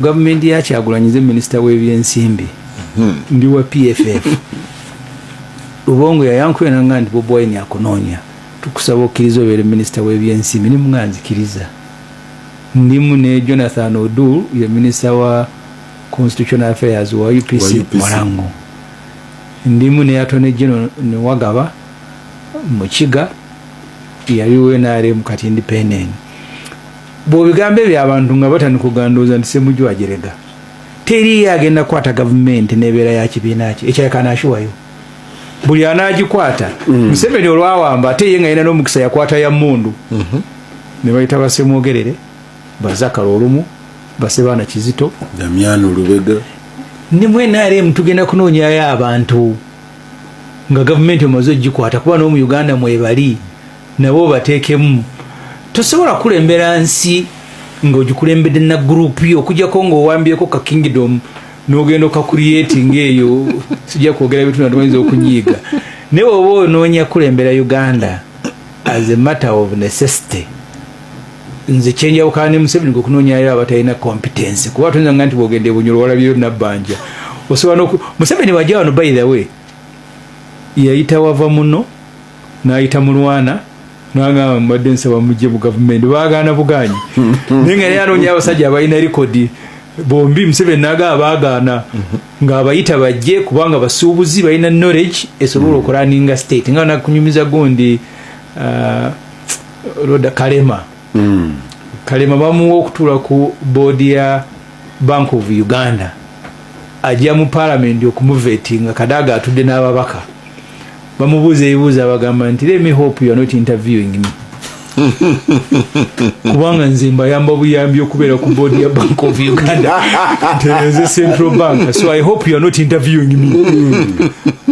gavumenti ya kyagulanyize minisita w'ebyensimbi hmm. ndi wa pff lubongo yayankuyananga nti bobi wine akunoonya tukusaba okkiriza obeere minisita w'ebyensimbi ni munga nzikiriza ndimu ne jonathan odu ye minisita wa constitutional affairs wa upc mulango ndimu ne atone general newagaba mukiga yali wenaremu kati independent bwobigambo ebyo abantu nga batandika ogandooza nti semujwa ajerega teriyo agenda kukwata gavumenti nebeera ya kibiina kye ekyayakanaashiwayo buli anagikwata mm. museveni olwawamba ate ye nga yina nomukisa yakwata ya mundu mhm. nebayita basemwogerere bazakala olumu basebaana kizito damiano lubega nimwe nrm tugenda kunoonyayo abantu nga gavumenti omaze ogikwata kuba n'omu uganda mwebali nabo bateekemu tosobola kulembera nsi ng'ogikulembedde na gurupu yo okujjako ng'owambyeko ka kingdom n'ogenda okakurietinga eyo sijja kwogera bitu natumayinza okunyiiga naye oba onoonya kulembera uganda as a matter of necessity nze kyenjawukana ne museveni ngokunoonyayo abatalina competence kuba tuyinza nga nti bwogenda ebunyolo walabiyo nabbanja osobola museveni wajja wano by the way yayita wava muno nayita mulwana nangamba mbadde nsaba mujje mu gavumenti bagaana bugaanyi naye nga naye anoonya abasajja abalina likodi bombi museveni naga abagaana ng'abayita bajje kubanga basuubuzi balina knowledge esobola okuraninga state nga nakunyumiza gundi uh, roda kalema hmm. kalema bamuwa okutuula ku boodi ya bank of uganda ajja mu palamenti okumuvetinga kadaga atudde n'ababaka bamubuuza ebibuuzo abagamba nti lemi hope you are not interviewing me kubanga nze mbayamba buyambi okubeera ku board ya bank of uganda nze central bank so i hope you are not interviewing me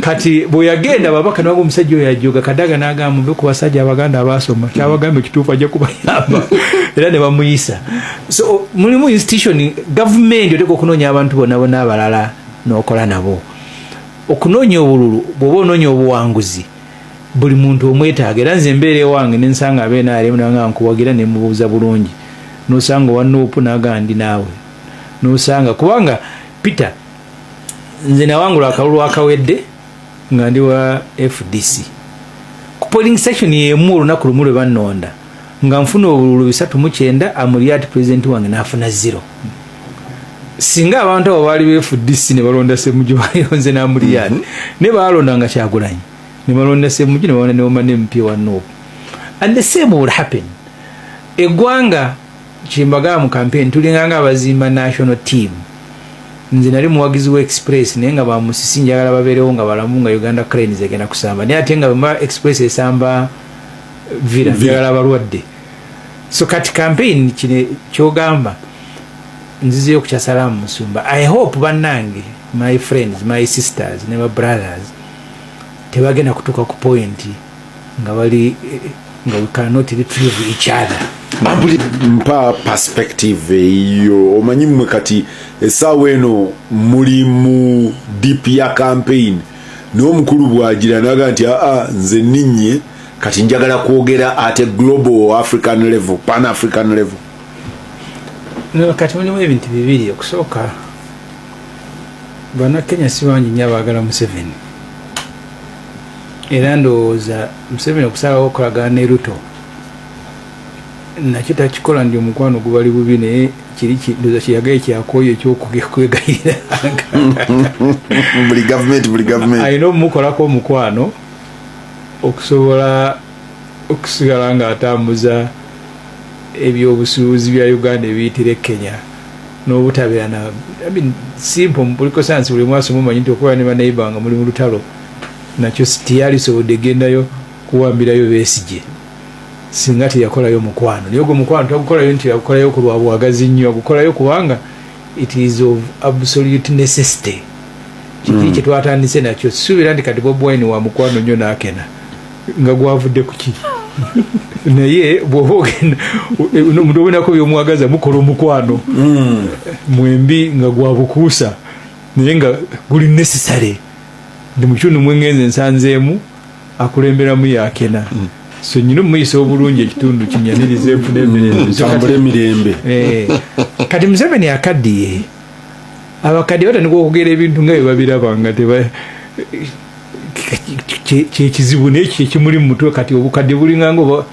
kati bweyagenda babaka nabanga omusajja oyo ajoga kadaga nagamba muve ku basajja abaganda abasoma kyabagamba ekituufu ajja kubayamba era ne bamuyisa so mulimu institution gavumenti oteeka okunoonya abantu bonabona abalala nokola nabo okunoonya obululu bwoba onoonya obuwanguzi buli muntu omwetaaga era nze embeera ewange nensanga abe nrm nanga nkuwagira nemubuuza bulungi nosanga owa nuupu naga ndi naawe nosanga kubanga peter nze nawangula akalulu akawedde nga ndi wa fdc ku polling station yemu olunaku lumu lwe bannonda nga nfuna obululu bisatu mukyenda amulyati pulezidenti wange nafuna zero singa abantu abo baali befudisi nebalonda semuju ayonze namuliyani mhm. ne balonda nga kyagulanyi nebalonda semuju nebalonda neoma nempi wa nup and the same will happen egwanga kyembagaa mu campaign tulinganga abazimba national team nze nali muwagizi wa express naye nga bamusisi njagala babeerewo nga balamu nga uganda cranes egenda kusamba naye ate nga bema express esamba vira njagala abalwadde so kati campaign kino kyogamba nzizeyo ku kyasalamu musumba i hope bannange my friends my sisters ne ba brothers tebagenda kutuuka ku point nga bali eh, nga we cannot retrieve each other abuli mpa perspective eyo omanyi mmwe kati esaawa eno muli mu deep ya campaign naye omukulu bwagira naga nti aa nze ninye kati njagala kwogera at a global african level pan african level kati mulimu ebintu bibiri okusooka banakenya sibangi nyo abagala museveni era ndowooza museveni okusalawo okolagana ne ruto nakyo takikola ndi omukwano gubali bubi naye kiri ndoza kiyagaye kyakoyo ekyokwegayiranga buli gavumenti buli gavumenti alina omukolako omukwano okusobola okusigala ng'atambuza ebyobusuubuzi bya uganda ebiyitira e kenya n'obutabeera na simpo mubuliko sansi buli mwasoma omanyi nti okubeera ne banaiba nga muli mu lutalo nakyo teyalisobodde egendayo kuwambirayo besigye singa teyakolayo mukwano naye ogwo mukwano tagukolayo nti agukolayo ku lwa bwagazi nnyo agukolayo kubanga it is of absolute necessity kiki hmm. kyetwatandise nakyo sisuubira nti kati bobwine wa mukwano nnyo nakena nga gwavudde kuki naye bwoba ogenda omuntu obonako byomwagaza mukola omukwano hmm. mwembi nga gwabukuusa naye nga guli necessary ndi mukitundu mwengenze nsanzeemu akulemberamu yakena mm. so nyina omuyisa obulungi ekitundu kinyaniriza enfuna emirembe emirembe eh. kati museveni akaddiye abakaddiye batandika okugera ebintu nga bebabiraba nga teba kyekizibu nekyo kyekimuli mumutwe kati obukadde bulinganga oba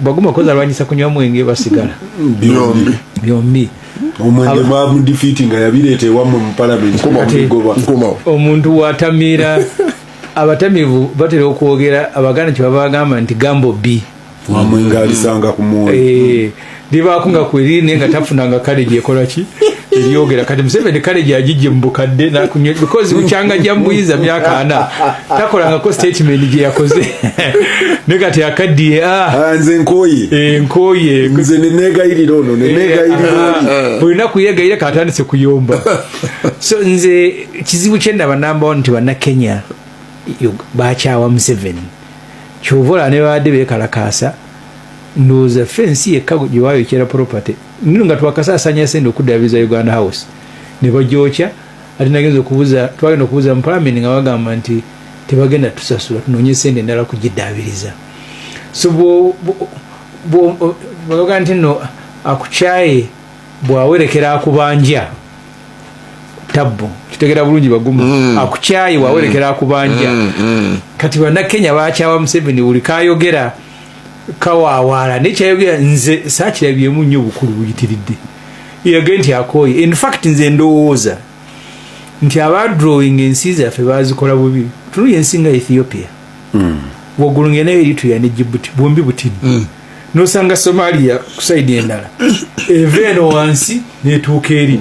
baguma koza alwanyisa kunywa mwenge basigala byombi byombi omwenge bamudifiti nga yabireeta ewammwe mu palamenti omuntu watamiira abatamivu batera okwogera abaganda kyebaba bagamba nti gambo bi wamwe ngaalisanga ku mwoyo eh. libaako nga kweriri naye nga tafunanga kale gyekola ki eryogera kati museveni kale gyagijje mu bukadde nakunywa because bukyanga gya mubuyiza myaka ana takolangako statement gye yakoze ne kati akaddiye ah. ah, nze nkoye eh, nkoye nze nenegayirira ono nenegayirira eh, ah, buli naku yegayira katandise kuyomba so nze kizibu kyendaba namba one nti bannakenya bakyawa museveni kyova olaba ne babadde bekalakaasa ndowooza ffe ensi yekka gye bayokyera property nino nga twakasaasanya sente okuddaabiriza uganda house ne bagyokya ate nagenza okubuza twagenda okubuza mu palamenti nga bagamba nti tebagenda tusasula tunoonye sente endala kugiddaabiriza so bwoga nti no akukyaye bwawerekera akubanja tabbu kitegera bulungi bagumu mm. akukyaye bwawerekera mm. akubanja mm. mm. kati banakenya bakyawa museveni buli kayogera kawawaala naye kyayogera nze sakirabyemu nnyo obukulu buyitiridde yage nti akooye infact nze ndowooza nti aba drawing ensi zaffe bazikola bubi tulu yensi nga ethiopia mm. waggulu ngenda eritrea ne jibuti bwombi butini mm. nosanga somalia kusaidi endala eva eno wansi netuuka eri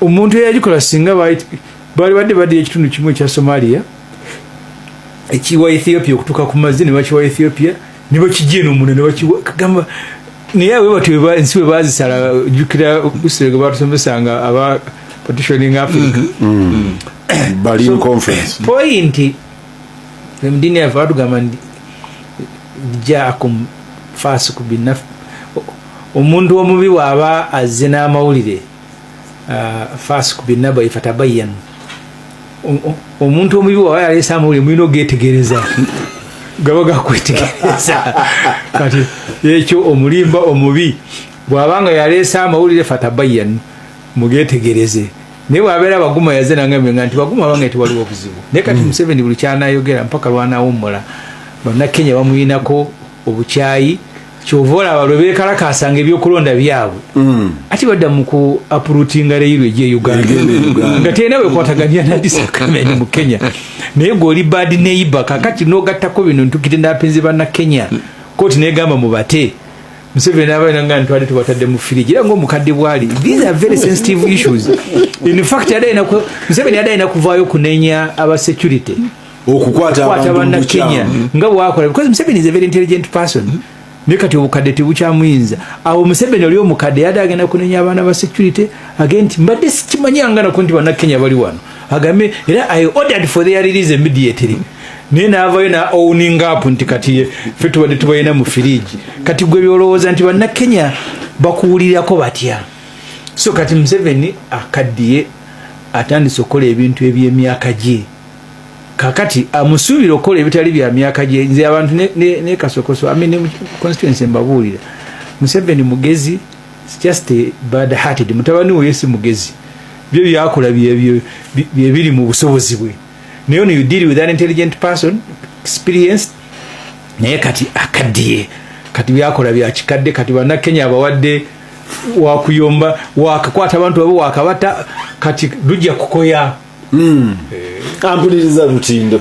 omuntu eyagikola singa baali badde badde ekitundu kimu ekya somalia ekiwa ethiopia okutuka ku mazzi nebakiwa ethiopia nebakijja eno muna nebakiwa kagamba naye awe bati ensi we bazisala jukira usirege batusomesanga aba partitioning africa mm-hmm. mm-hmm. berlin conference point emdini yava batugamba nti jaakum fasiku binaf omuntu omubi waaba azze n'amawulire uh, fasik binabai fatabayan omuntu omubi waba yaleesa amawulire mulina ogetegereza gaba gakwetegereza kati ekyo omulimba omubi bwaba nga yaleesa amawulire fatabayan mugetegereze naye bwabeera baguma yaze nangambe nga nti baguma abanga ti waliwo obuzibu naye kati hmm. museveni buli kyanayogera mpaka lwanawummula bannakenya bamuyinako obukyayi kyova olaba lwe bekalakaasa nga ebyokulonda byabwe mm. ati badda mu ku apurutinga reyiro egye uganda nga tena wekwataganya nadisakamene mu kenya naye gweoli bad neighbor kakati nogattako bino ntukite napinzi banna kenya koti negamba mubate museveni nabaina nga ntwade tubatadde mu firiji era ngaomukadde bwali these are very sensitive issues in fact museveni adaina kuvaayo kunenya aba security okukwata abantu Kenya nga bwakola because Museveni is a very intelligent person mm -hmm. naye kati obukadde tebukyamuyinza awo museveni oli omukadde yade agenda kunenya abaana ba security agee nti mbadde sikimanyanganako nti banakenya bali wano agambe era i ordered for their release immediately naye navayo na owning up nti kati fe tubadde tubalina mu firiji kati gwe byolowooza nti banakenya bakuwulirirako batya so kati museveni akaddiye atandise okukola ebintu ebyemyaka gye kakati amusuubira okukola ebitali bya myaka gye nze abantu nekasokoso ne, ne amene constituency mbabuulira museveni mugezi just a bad hearted mutabani woyo si mugezi byo byakola byebiri mu busobozi bwe naye ono you deal with an intelligent person experience naye kati akaddiye kati byakola byakikadde kati banakenya abawadde wakuyomba wakakwata abantu abo wakabata kati lujja kukoya mm. eh. ampuliriza lutindo